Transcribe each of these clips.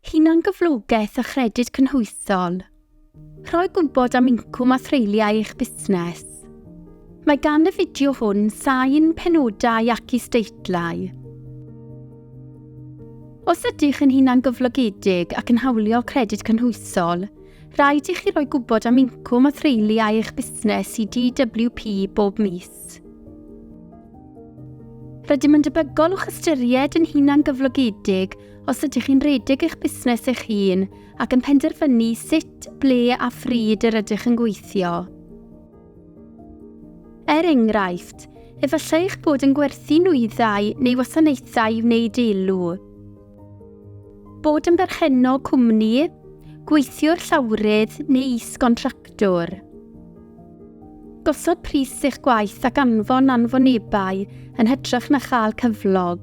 Hunangyflogaeth a Chredyd Cynhwysol Rhoi gwybod am incwm a threuliau eich busnes. Mae gan y fideo hwn sain, penodau ac isdeitlau. Os ydych yn hunangyflogedig ac yn hawlio Credyd Cynhwysol, rhaid i chi roi gwybod am incwm a threuliau eich busnes i DWP bob mis. Cymdeithas. Rydym yn debygol o'ch ystyried yn hunangyflogedig os ydych chi'n rhedeg eich busnes eich hun ac yn penderfynu sut, ble a phryd yr ydych yn gweithio. Er enghraifft, efallai eich bod yn gwerthu nwyddau neu wasanaethau i wneud elw. Bod yn berchennog cwmni, gweithiwr llawrydd neu is-gontractwr. Gosod pris eich gwaith ac anfon anfonebau yn hytrach na chael cyflog.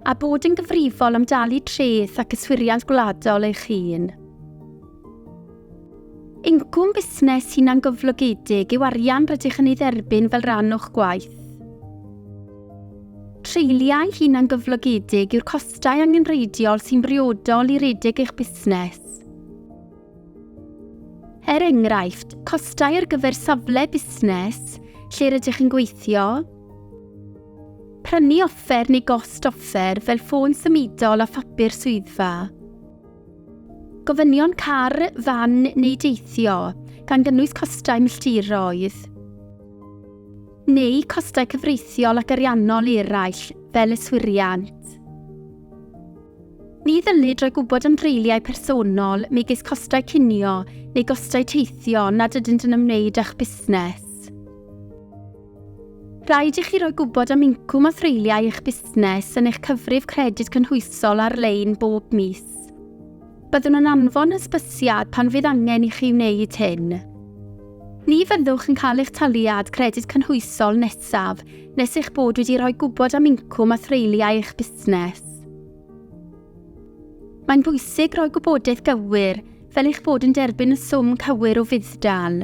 A bod yn gyfrifol am dalu treth ac yswiriant gwladol eich hun. Incwm busnes hunangyflogedig yw arian rydych yn ei dderbyn fel rhan o'ch gwaith. Treuliau hunangyflogedig yw'r costau angenrheidiol sy'n briodol i redeg eich busnes. Er enghraifft, costau ar gyfer safle busnes lle rydych chi'n gweithio, prynu offer neu gost offer fel ffôn symudol a phapur swyddfa, gofynion car, fan neu deithio, gan gynnwys costau milltiroedd, neu costau cyfreithiol ac ariannol eraill fel yswiriant. Ni ddylid rhoi gwybod am dreuliau personol, megis costau cinio neu gostau teithio nad ydynt yn ymwneud â'ch busnes. Rhaid i chi roi gwybod am incwm a threuliau eich busnes yn eich cyfrif credyd cynhwysol ar-lein bob mis. Byddwn yn anfon hysbysiad pan fydd angen i chi wneud hyn. Ni fyddwch yn cael eich taliad credyd cynhwysol nesaf nes eich bod wedi rhoi gwybod am incwm a threuliau eich busnes. Cymraeg. Mae'n bwysig rhoi gwybodaeth gywir, fel eich bod yn derbyn y swm cywir o fudd-dal.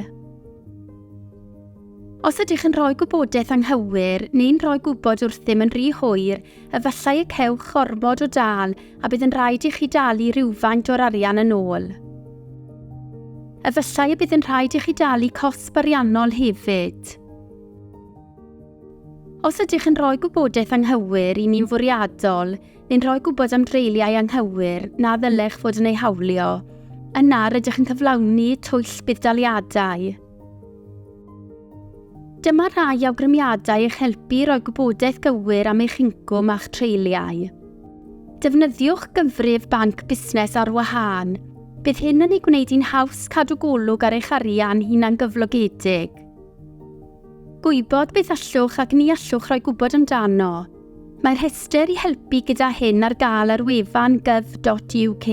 Os ydych yn rhoi gwybodaeth anghywir neu'n rhoi gwybod wrthym yn rhy hwyr, efallai y cewch ormod o dal a bydd yn rhaid i chi dalu rhywfaint o'r arian yn ôl. Efallai y bydd yn rhaid i chi dalu cosb ariannol hefyd. Os ydych yn rhoi gwybodaeth anghywir i ni'n fwriadol neu'n rhoi gwybod am dreuliau anghywir na ddylech fod yn eu hawlio, yna rydych yn cyflawni twyll budd-daliadau. Dyma rhai awgrymiadau eich helpu i roi gwybodaeth gywir am eich incwm a'ch treuliau. Defnyddiwch gyfrif banc busnes ar wahân. Bydd hyn yn ei gwneud hi'n haws cadw golwg ar eich arian hunangyflogedig. Gwybod beth allwch ac ni allwch roi gwybod amdano. Mae rhestr i helpu gyda hyn ar gael ar wefan gov.uk.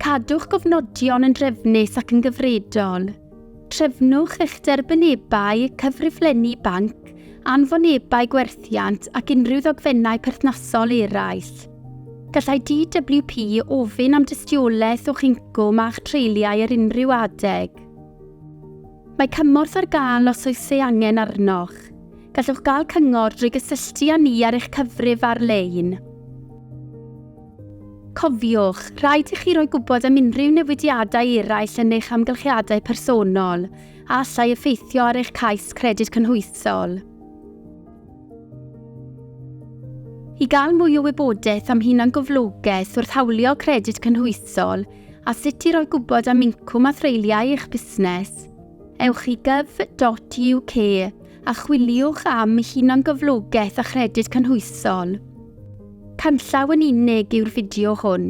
Cadwch gofnodion yn drefnus ac yn gyfredol. Trefnwch eich derbynebau, cyfriflenni banc, anfonebau gwerthiant ac unrhyw ddogfennau perthnasol eraill. Gallai DWP ofyn am dystiolaeth o'ch incwm a'ch treuliau ar unrhyw adeg. Mae cymorth ar gael os oes ei angen arnoch. Gallwch gael cyngor drwy gysylltu â ni ar eich cyfrif ar-lein. Cofiwch, rhaid i chi roi gwybod am unrhyw newidiadau eraill yn eich amgylchiadau personol a allai effeithio ar eich cais Credyd Cynhwysol. I gael mwy o wybodaeth am hunangyflogaeth wrth hawlio Credyd Cynhwysol, a sut i roi gwybod am incwm a threuliau eich busnes. Ewch i gov.uk a chwiliwch am hunangyflogaeth a chredyd cynhwysol. Canllaw yn unig yw'r fideo hwn.